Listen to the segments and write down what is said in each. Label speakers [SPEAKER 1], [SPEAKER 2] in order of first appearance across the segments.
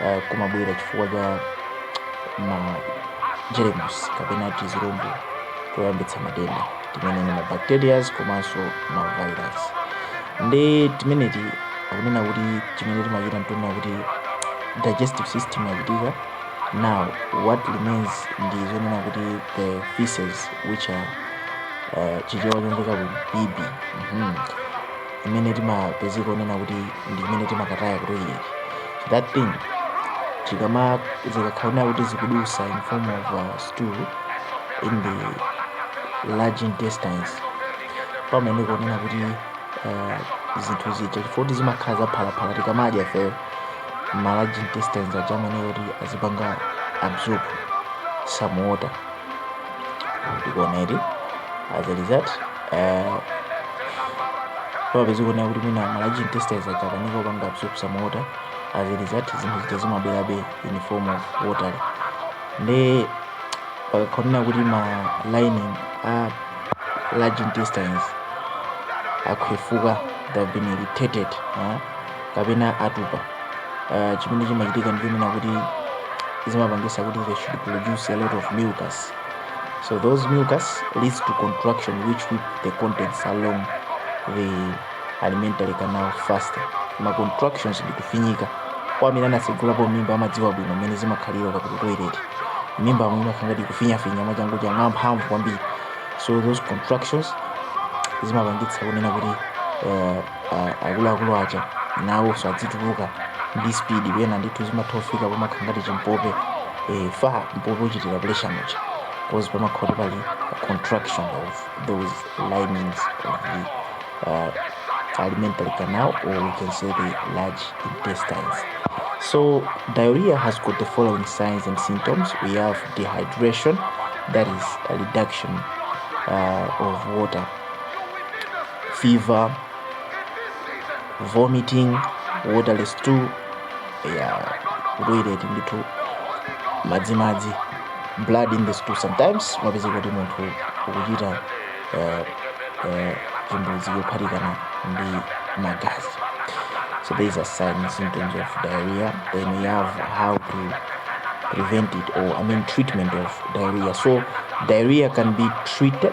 [SPEAKER 1] uh, kumabwera chifukwa cha ma jeremusi kapena tizirombo toyambitsa matenda timene ni mabacterias komanso mavirus ndi timeneti akunena kuti chimene chimachitika ndichonena kuti digestive system yachitika now what remains ndi zonena kuti the feces which are uh, chichewa chomveka kuti bibi imene timapezeka onena kuti ndi imene timakataya ku toilet so that thing chikama zikakhala onena kuti zikudusa in form of uh, stool in the large intestines pamene kuonena kuti uh, zinthu zija chifukwa choti zimakhala zaphalaphala tikamadya feyo ma large intestines aja amayenera kuti azipanga absorb some water tikuoneti as a result eh, pamapezeka kuonena kuti mwina ma large intestines aja akanika kupanga absorb some water as a result zinthu zija zimabwerabe in form of water nde pakakhala onena kuti ma lining a large intestines akhwefuka they have been irritated eh, kapena atupa uh, chimene chimachitika ndichonena kuti zimapangisa kuti they should produce a lot of mucus so those mucus leads to contraction which whip the contents along the alimentary canal faster ma contractions ndi kufinyika kwa amene anatsegulapo mimba amadziwa bwino mmene zimakhalira ukapita toilet mimba amwe imakhala ngati ikufinyafinya mwachangu changu mwamphamvu kwambiri so those contractions zimapangitsa kunena kuti uh, akuluakulu aja nawonso adzituluka ndi speed pena ndithu zimatha kufika pomakhala ngati chimpope eh, fa mpope uchitira pressure muja cause pamakhala kuti pali a contraction of those linings of the uh, alimentary canal or we can say the large intestines so diarrhea has got the following signs and symptoms we have dehydration that is a reduction uh, of water fever vomiting waterless stew yeah kutoilet ndithu madzimadzi blood in the stool sometimes mapeza kuti munthu ukuchita eh, eh, chimbuzi yophatikana ndi magazi so there is a sign and symptoms of diarrhea then we have how to prevent it or i mean treatment of diarrhea so diarrhea can be treated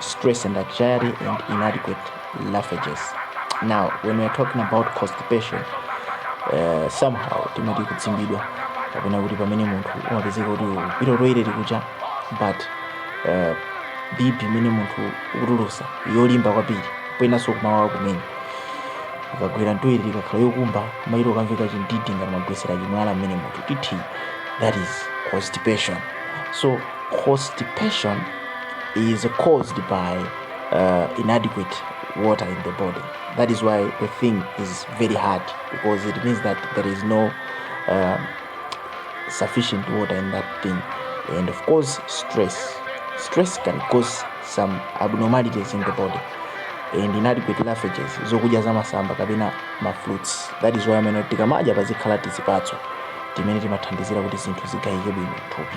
[SPEAKER 1] stress and anxiety and inadequate roughages now when we are talking about constipation uh, somehow timati kudzimbidwa kapena kuti pamene munthu umapezeka kuti ukupita toilet kuja but uh, bibi imene munthu ukutulusa yolimba kwambiri penanso kumawawa kumene ikagwera mtoilet ikakhala yokumba imachita kukamveka chindidi ngati mwagwesera chimwala mmene munthu titi that is constipation so constipation is caused by uh, inadequate water in the body. That is why the thing is very hard because it means that there is no uh, sufficient water in that thing. And of course, stress. Stress can cause some abnormalities in the body and inadequate roughages zokudya za masamba kapena mafruits that is why amanena tikamadya pazikhala tizipatso timene timathandizira kuti zinthu zigayike bwino thupi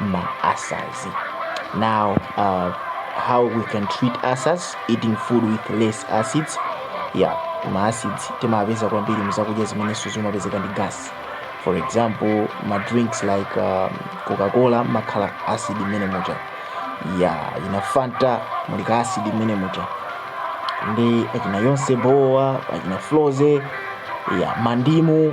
[SPEAKER 1] ma ulcers now uh, how we can treat ulcers eating food with less acids yeah ma acids timapeza kwambiri muzakudya zimenenso zimapezeka ndi gas for example ma drinks like um, coca-cola mumakhala acid mmene muja akina fanta muli ka acid mmene muja ndi akina yonse bo akina frozy ya mandimu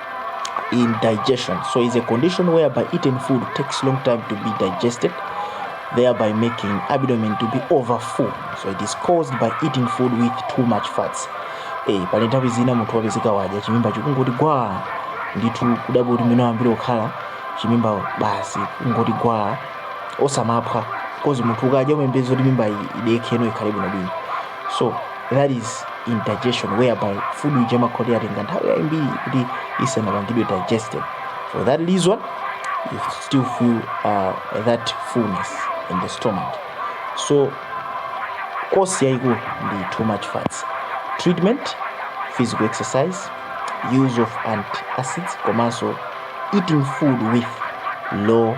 [SPEAKER 1] indigestion. So it's a condition whereby eaten food takes long time to be digested, thereby making abdomen to be overfull. So it is caused by eating food with too much fats. Eh, pali nthawi zina munthu wapezeka wadya chimimba chikungoti gwaa ndithu kudabwa kuti mwina wambiri okhala chimimba basi kungoti gwaa osamaphwa cause munthu ukadya umayembekeza kuti mimba idekhe ino ikhale bwinobwino so that is indigestion whereby food ija imakhala yatenga nthawi yambiri kuti isanapangidwe digested for that reason you still feel uh, that fullness in the stomach so cause yaikulu ndi too much fats treatment physical exercise use of antacids komanso eating food with low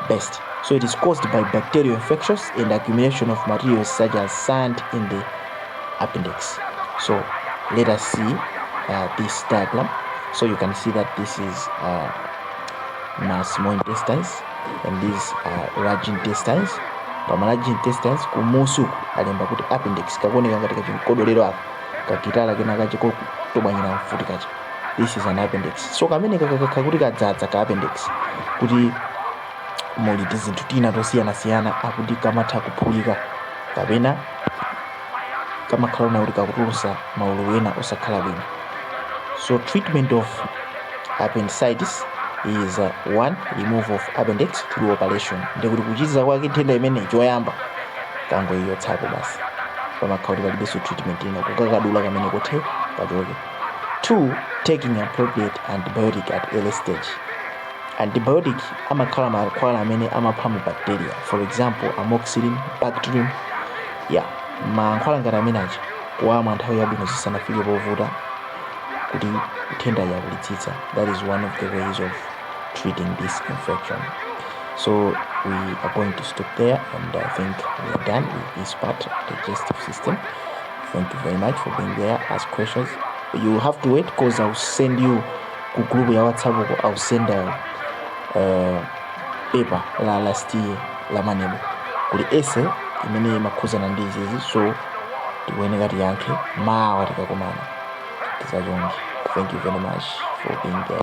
[SPEAKER 1] best. So it is caused by bacterial infections and accumulation of materials such as sand in the appendix. So let us see uh, this diagram. So you can see that this is uh, my small intestines and these are large intestines. pama large intestines kumusi uku alemba kuti appendix kakuoneka ngati kachimkodolero aka kakitala kena kachikotobwanyira mfuti kacha this is an appendix so kamene kakakhala kuti kadzadza ka appendix kuti muli tizinthu tina tosiyanasiyana akuti kamatha kuphulika kapena kamakhala ngati kakutulusa maululu ena osakhala bwino so treatment of appendicitis is uh, one remove of appendix through operation ndikuti kuchiza kwake nthenda imene choyamba kungoichotsapo basi pamakhala kuti palibenso treatment ina kukakadula kamene kothe kachoke 2 taking appropriate antibiotic at early stage antibiotic amakhala mankhwala amene amapha mabacteria for example amoxicillin bactrim ya mankhwala ngati amene aja kuwamwa nthawi yabwino zisanafike povuta kuti nthenda yakulitsitsa that is one of the ways of treating this infection so we are going to stop there and i think we are done with this part digestive system Thank you very much for being there. Ask questions. You have to wait because I'll send you ku group ya WhatsApp uko. I'll send a, uh, paper la last year la MANEB kuli essay imene imakhudzana ndi izizi so tikuyeneka tiyankhe mawa tikakumana tidzachonge thank you very much for being there